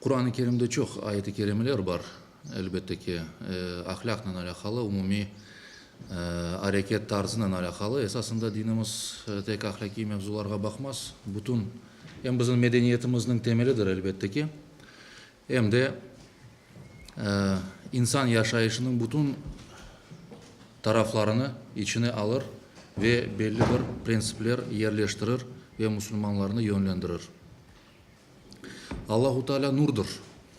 Quran-ı Kerimde çoq ayet-i kerimeler bar, elbette ki, ahlâqnen alâqalı, umumiy areket tarzınen alâqalı. Esasında dinimiz tek ahlâqiy mevzularğa baqmaz, bütün, em bizim medeniyetimizniñ temelidir, elbette ki, em de insan yaşayışınıñ bütün taraflarını içine alır ve belli bir prensipler yerleştirir ve musulmanlarnı yönlendirir. Allahu Teala nurdır.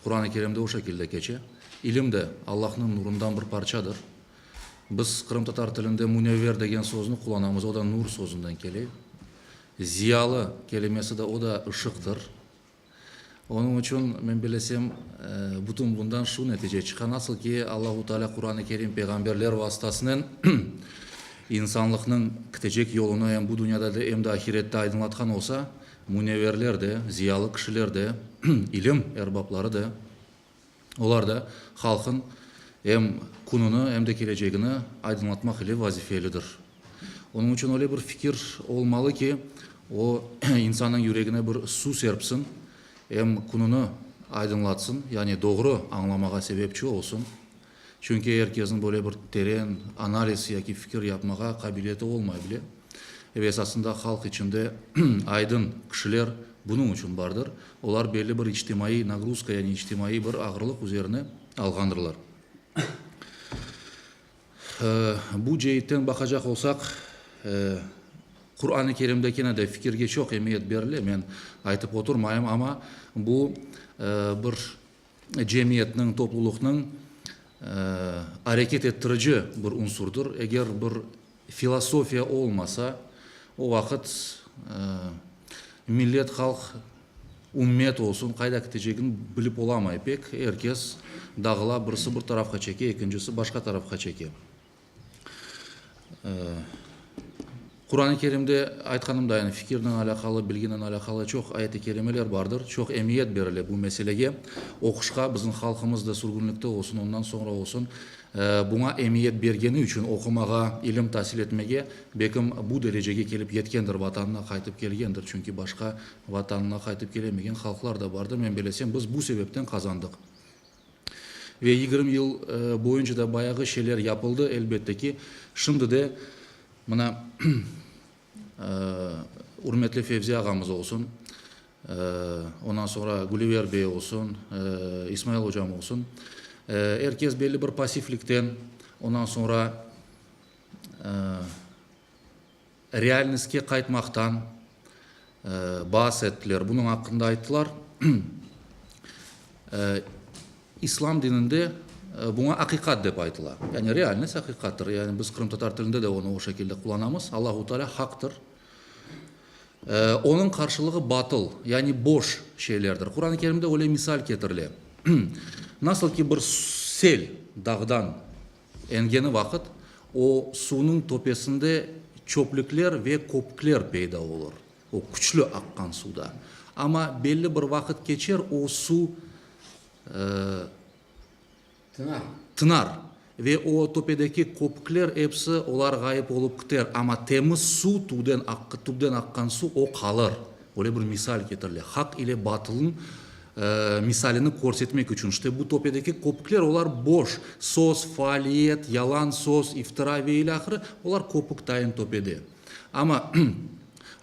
Quran-ı Kerimde o şekilde keçe. İlim de Allahnıñ nurundan bir parçadır. Biz qırımtatar tilinde münevver degen sözni qullanamız, o da nur sözünden kele. Ziyalı kelimesi de, o da ışıqtır. Onıñ içün men bilesem, bütün bundan şu netice çıqa, nasıl ki, Allahu Teala Quran-ı Kerim peyğamberler vastasınen insanlıqnıñ kitecek yolunı em bu dünyada da, em de ahirette aydınlatqan olsa, Müneverler de, ziyalı kişiler de, ilim erbapları da, olar da halqın em kününi, em de kelecegini aydınlatmaq ile vazifelidir. Onıñ içün öyle bir fikir olmalı ki, o, insannıñ yüregine bir suv serpsin, em kününi aydınlatsın, yani doğru añlamağa sebepçi olsun. Çünki er kesniñ böyle bir teren analiz yaki fikir yapmağa qabiliyeti olmay bile. Ve esasında halq içinde aydın kişiler bunıñ içün bardır. Olar belli bir içtimaiy nagruzka yani içtimaiy bir ağırlıq üzerine alğandırlar. Bu ceitten baqacaq olsaq, Quran-ı Kerimde kene de fikirge çoq emiyet berile, men aytıp oturmayım, amma bu bir cemiyetniñ, toplulıqnıñ areket ettirici bir unsurdır. Eger bir filosofiya olmasa, o vaqıt millet, halq, ümmet olsun qayda kitecegini bilip olamay pek. Er kes dağıla, birisi bir tarafqa çeke, ekincisi başqa tarafqa çeke. Quran-ı Kerimde aytqanımday, fikirnen alâqalı, bilginen alâqalı çoq ayet-i kerimeler bardır, çoq emiyet berile bu meselege. Oquşqa bizim halqımız da sürgünlikte olsun, ondan soñra olsun, buña emiyet bergeni içün oqumağa, ilim tasil etmege, belkim bu derecege kelip yetkendir, Vatanına qaytıp kelgendir. Çünki başqa Vatanına qaytıp kelemegen halqlar da bardır. Men belesem, biz bu sebepten qazandıq. Ve yigirmi yıl boyunca da bayağı şeyler yapıldı, elbette ki, şimdi de mına ürmetli Fevzi ağamız olsun, ondan soñra Gülüver bey olsun, İsmail ocam olsun, er kes belli bir passivlikten, ondan soñra Realnıstke qaytmaqtan baas ettiler, bunıñ aqqında ayttılar. İslam dininde buña aqiqat dep aytıla. Yani realnost aqiqattır. Yani biz qırımtatar tilinde de onı o şekilde qullanamız, Allahu Teala haqtır. Onıñ qarşılığı batıl, yani boş şeylerdir. Quran-ı Kerimde öyle misal ketirile. Nasıl ki bir sel dağdan Engeni vaqıt o suvnıñ töpesinde çöplükler ve köpükler peyda olur, o küçlü aqqan suvda. Amma belli bir vaqıt keçer, o suv tınar ve o töpedeki köpükler episi olar ğayıp olıp kiter, amma temiz suv, tüvden aqqan suv o qalır. Böyle bir misal ketirile. Haq ile batılnıñ Misalini körsetmek içün, işte, bu töpedeki köpükler, olar boş, söz, faaliyet, yalan söz, iftira ve ile ahırı, olar köpük tayın töpede. Amma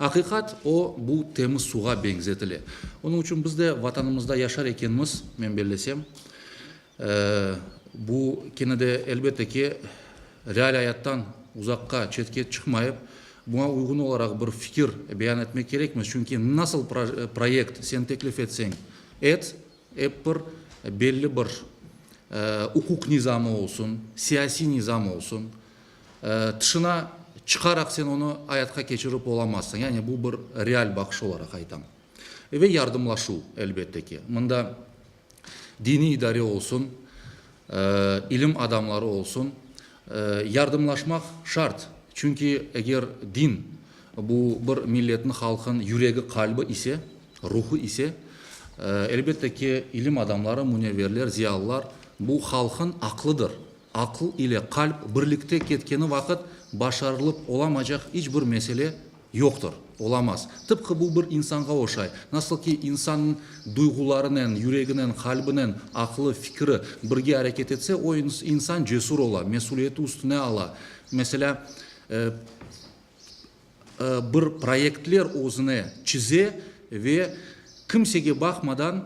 aqiqat, o, bu temiz suğa beñzetile. Onıñ içün biz de Vatanımızda yaşar ekenmiz, men bellesem, Bu kene de, elbette ki, real ayattan uzaqqa, çetke çıqmayıp, buña uyğun olaraq bir fikir beyan etmek kerekmiz, çünki nasıl proyekt sen teklif etseñ et, ep bir belli bir uquq nizamı olsun, siyasiy nizam olsun, tışına çıqaraq sen onı ayatqa keçirip olamazsıñ. Yani bu bir real baqış olaraq aytam. Ve yardımlaşuv, elbette ki. Mında. diniy idare olsun, ilim adamları olsun, yardımlaşmaq şart. Çünki eger din, bu bir milletni, halqın yüregi, qalbi ise, ruhu ise, elbette ki, ilim adamları, münevverler, ziyalılar, bu halqın aqlıdır. Aql ile qalp birlikte ketkeni vaqıt başarılıp olamaycaq iç bir mesele, Yoqtır, olamaz. Tıpqı bu bir insanğa oşay. Nasıl ki, insannıñ duyğularınen, yüreginen, qalbinen, aqlı, fikri birge areket etse, o insan cesur ola, mesüliyeti üstüne ala. Meselâ, bir proyektler özüne çize ve kimsege baqmadan,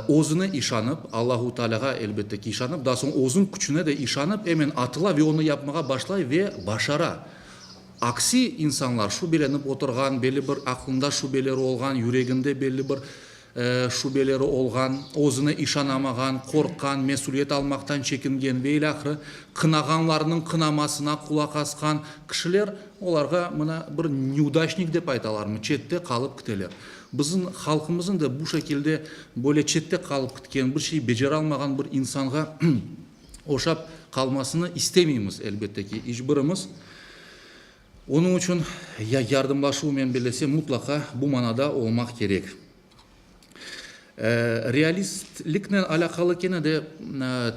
özüne işanıp, Allahu Tealâğa, elbette ki, işanıp, daha soñ özüñ küçüne de işanıp, emin atıla ve onı yapmağa başlay ve başara. Aksi insanlar, şübelenip oturğan, belli bir aqlında şübeleri olğan, yüreginde belli bir şübeleri olğan, özüne işanamağan, qorqqan, mesüliyet almaqtan çekingen ve ilâhre, qınağanlarnıñ qınamasına qulaq asqan kişiler, olarğa mına bir nevdaçnik dep aytalarmı, çette qalıp kiteler. Bizim halqımızın da bu şekilde böyle çette qalıp kitken, bir şey beceralmağan bir insanğa oşap qalmasını istemeymiz, elbette ki, iç birimiz. Onıñ içün ya yardımlaşuvınen birlese, mutlaqa bu manada olmaq kerek. Realistliknen alâqalı kene de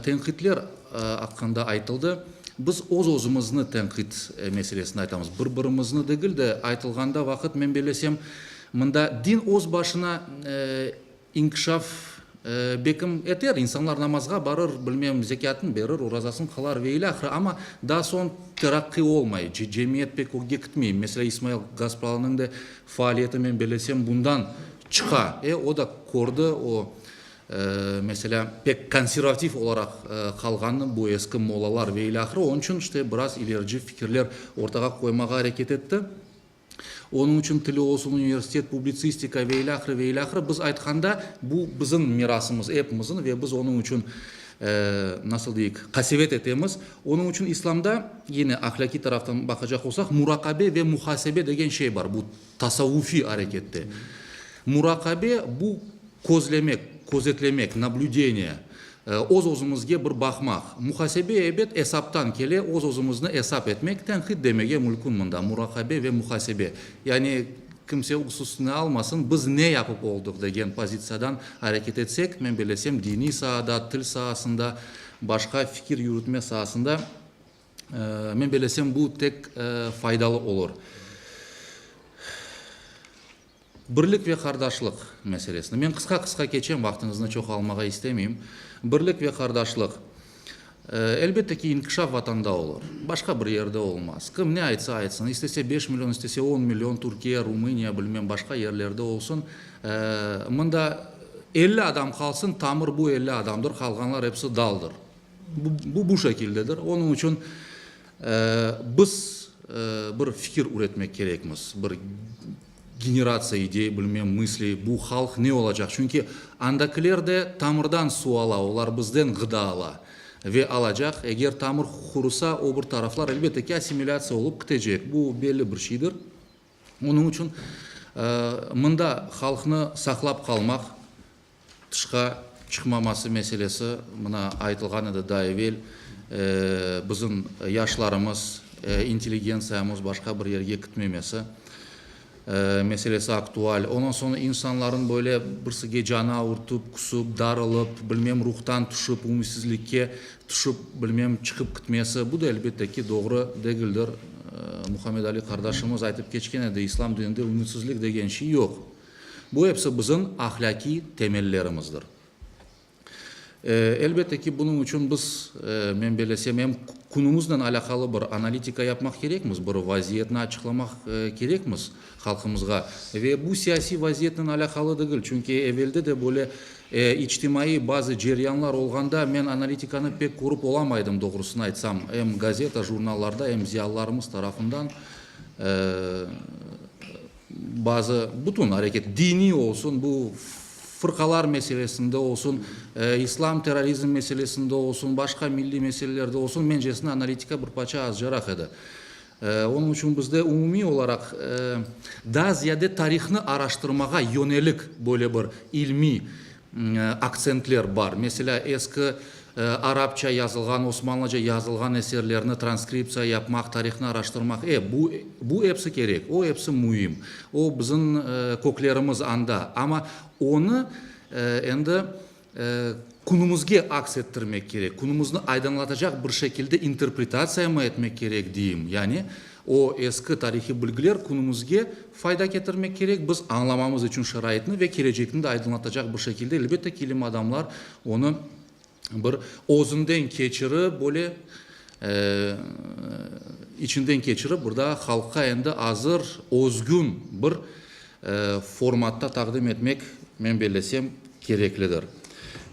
tenqitler aqqında aytıldı. Biz öz-özümizni tenqit meselesinde aytamız, bir-birimizni degil de. Aytılğanda vaqıt, men birlesem, mında din öz başına İnkişaf bekim eter, insanlar namazğa barır, bilmem, zekâtın berir, orazasın qılar ve ilâhre, amma daa soñ teraqqiy olmay, cemiyet pek ögge kitmey. Meselâ, İsmail Gaspalıniñ de faaliyeti, men bellesem, bundan çıqa. E, o da kördi, o, meselâ, pek konservativ olaraq qalğanını, bu eski mollalar ve ilâhre, onıñ içün işte biraz ilerici fikirler ortağa qoymağa areket etti. Onıñ içün tili olsun, universitet, publitsistika ve ilâhre, ve ilâhre. Biz aytqanda, bu, bizim mirasımız, epimiziñ ve biz onıñ içün, nasıl deyik, qasevet etemiz. Onıñ içün İslamda, yine ahlâkiy taraftan baqacaq olsaq, muraqabe ve muhasebe degen şey bar, bu, tasavvufiy arekette. Muraqabe, bu, közlemek, közetlemek, nablüdeniye. Öz-özümizge bir baqmaq. Muhasebe, ebet, esaptan kele, öz-özümizni esap etmek, tenqit demege mülkün mında, muraqabe ve muhasebe. Yani kimse öz üstüne almasın, biz ne yapıp oldıq degen pozitsiyadan areket etsek, men belesem, diniy saada, til saasında, başqa fikir yürütme saasında, men belesem, bu tek faydalı olur. Birlik ve qardaşlıq meselesini men qısqa-qısqa keçem, vaqtıñıznı çoq almağa istemeyim. Birlik ve qardaşlıq, elbette ki, inkişaf Vatanda olur, başqa bir yerde olmaz. Kim ne aytsa aytsın, istese beş million, istese on million Türkiye, Rumıniya, bilmem, başqa yerlerde olsun, mında elli adam qalsın, tamır bu elli adamdır, qalğanlar hepsi daldır. Bu, bu şekildedir. Onıñ içün biz bir fikir üretmek kerekmiz, bir generatsiya idey, bilmem, mısli, bu halq ne olacaq, çünki andakiler de tamırdan suv ala, olar bizden ğıda ala ve alacaq, eger tamır qurusa, o bir taraflar, elbette ki, assimilâtsiya olıp kitecek, bu belli bir şeydir. Onıñ içün mında halqnı saqlap qalmaq Tışqa çıqmaması meselesi, mına aytılğan edi daa evel, bizim yaşlarımız, intelligentsiyamız başqa bir yerge kitmemesi meselesi aktual. Ondan soñra insanların böyle birsige canı avurtıp, küsüp, darılıp, bilmem, ruhtan tüşip, ümütsizlikke tüşip, bilmem, çıqıp kitmesi, bu da, elbette ki, doğru degildir. Muhammed Ali qardaşımız aytıp keçken edi, İslam dininde ümütsizlik degen şey yoq. Bu episi bizim ahlâkiy temellerimizdir. Elbette ki, bunıñ içün biz, men belesem, em künümiznen alâqalı bir analitika yapmaq kerekmiz, bir vaziyetni açıqlamaq kerekmiz halqımızğa. Ve bu siyasiy vaziyetnen alâqalı degil, çünki evelde de böyle içtimaiy bazı ceryanlar olğanda men analitikanı pek körüp olamaydım, doğrusını aytsam, em gazeta, jurnallarda, em ziyalılarımız tarafından. Bazı, bütün areket, diniy olsun, bu fırqalar meselesinde olsun, islam terrorizm meselesinde olsun, başqa milliy meselelerde olsun, mencesine analitika bir parça azcaraq edi. Onıñ içün bizde umumiy olaraq daa ziyade tarihnı araştırmağa yönelik böyle bir ilmiy, Aktsentler bar. Meselâ, eski arapça yazılğan, osmanlıca yazılğan eserlerni transkriptsiya yapmaq, tarihni araştırmaq, e, bu, bu episi kerek, o episi müim, o, bizim köklerimiz anda. Amma onı endi künümizge aks ettirmek kerek, künümizni aydınlatacaq bir şekilde interpretatsiyamı etmek kerek, deyim. Yani. O eski tarihiy bilgiler künümizge fayda ketirmek kerek, biz añlamamız içün şaraitni ve kelecekni de aydınlatacaq bir şekilde, elbette ki, ilim adamlar onı bir özünden keçirip, böyle içinden keçirip, bir daa halqqa endi azır, özgün bir formatta taqdim etmek, men bellesem, kereklidir.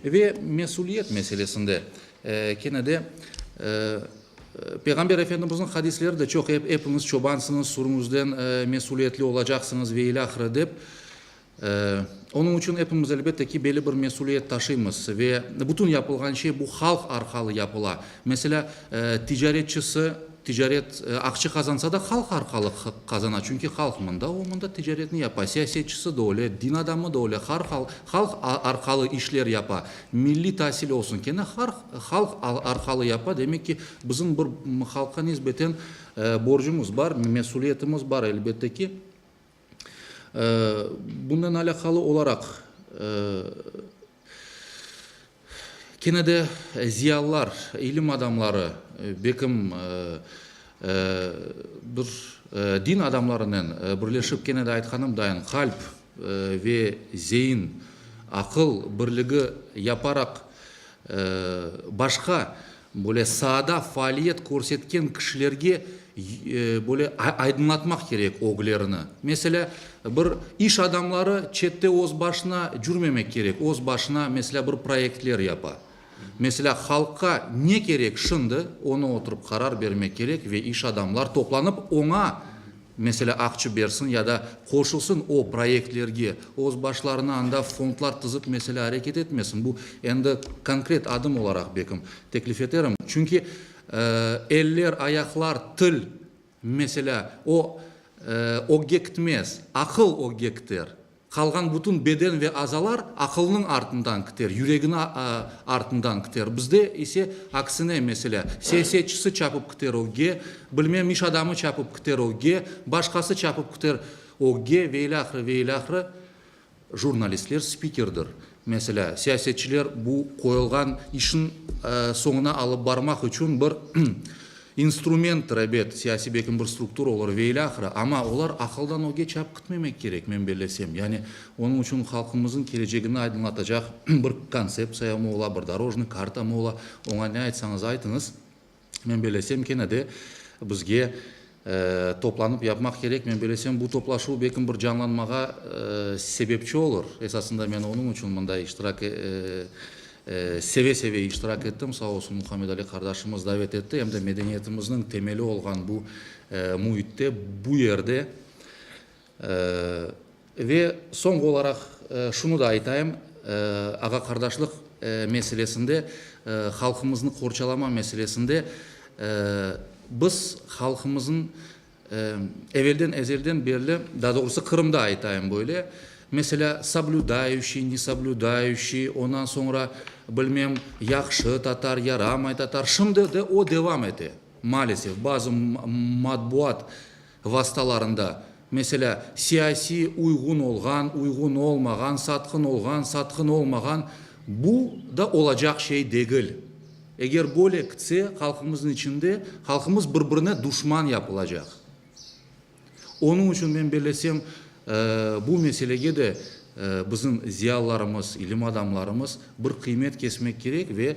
Ve mesüliyet meselesinde kene de. Peyğamber Efendimizniñ hadisleri de çoq, epiñiz çobansıñız, sürüñizden mesüliyetli olacaqsıñız ve ilâ ahire dep. Onıñ içün epimiz, elbette ki, belli bir mesüliyet taşıymız ve bütün yapılğan şey bu halq arqalı yapıla. Meselâ, ticaretçisi ticaret, aqça qazansa da halq arqalı qazana, çünki halq mında, o mında ticaretini yapa. Siyasetçisi de öyle, din adamı da öyle, halq arqalı işler yapa. Milliy tasil olsun, kene har halq arqalı yapa, demek ki, bizim bir halqqa nisbeten borcumuz bar, mesüliyetimiz bar, elbette ki. Bunen alâqalı olaraq, kene de ziyalılar, ilim adamları, bekim Bir din adamlarınen birleşip, kene de aytqanımdayin, qalp ve zeyin, aqıl birligi yaparaq, başqa böyle saada faaliyet körsetken kişilerge böyle aydınlatmaq kerek öglerini. Meselâ, bir iş adamları çette öz başına cürmemek kerek, öz başına, meselâ, bir proyektler yapa. Meselâ, halqqa ne kerek şimdi, onı oturıp qarar bermek kerek ve iş adamlar toplanıp oña, meselâ, aqçı bersin ya da qoşulsın o proyektlerge, öz başlarına anda fondlar tizip, meselâ, areket etmesin. Bu endi konkret adım olaraq bekim teklif eterim. Çünki, eee, eller, ayaqlar, til Meselâ, o, ögge kitmez, aqıl ögge kiter. Qalğan bütün beden ve azalar aqılnıñ artından kiter, yüregini artından kiter. Bizde ise aksine, meselâ, siyasetçisi çapıp kiter ögge, bilmem, iş adamı çapıp kiter ögge, başqası çapıp kiter ögge, ve ilâhre, ve ilâhre. Jurnalistler spikerdir. Meselâ, siyasetçiler bu qoyulğan işni soñuna alıp barmaq içün bir instrumenttir, ebet, siyasiy belki bir struktura olur ve ilâ ahire, amma olar aqıldan öge çap kütmemek kerek, men bellesem. Yani onıñ içün halqımıznıñ kelecegini aydınlatacaq bir kontseptsiyamı ola, bir dorojnıy kartamı ola, oña ne aytsañız aytıñız, Men belesem, kene de bizge toplanıp yapmaq kerek. Men belesem, bu toplaşuv belkim bir canlanmağa sebepçi olur. Esasında men onıñ içün mında iştirak, seve-seve iştirak ettim. Sağ olsun, Muhammedali qardaşımız davet etti. Em de medeniyetimizniñ temeli olğan bu müitte, bu yerde Ve soñki olaraq şunı da aytayım, ağa-qardaşlıq meselesinde, halqımıznı qorçalama meselesinde biz halqımızın evelden, ezelden berli, daa doğrusı Qırımda aytayım böyle, meselâ, soblüdayuşiy, nesoblüdayuşiy, ondan soñra, bilmem, yahşı tatar, yaramay tatar, şimdi de o devam ete, maalesef, bazı matbuat vastalarında, meselâ, siyasiy uyğun olğan, uyğun olmağan, satqın olğan, satqın olmağan, bu da olacaq şey degil. Eger böyle kitse, halqımıznıñ içinde halqımız bir-birine duşman yapılacaq. Onıñ içün men bellesem, bu meselege de bizim ziyalılarımız, ilim adamlarımız bir qıymet kesmek kerek ve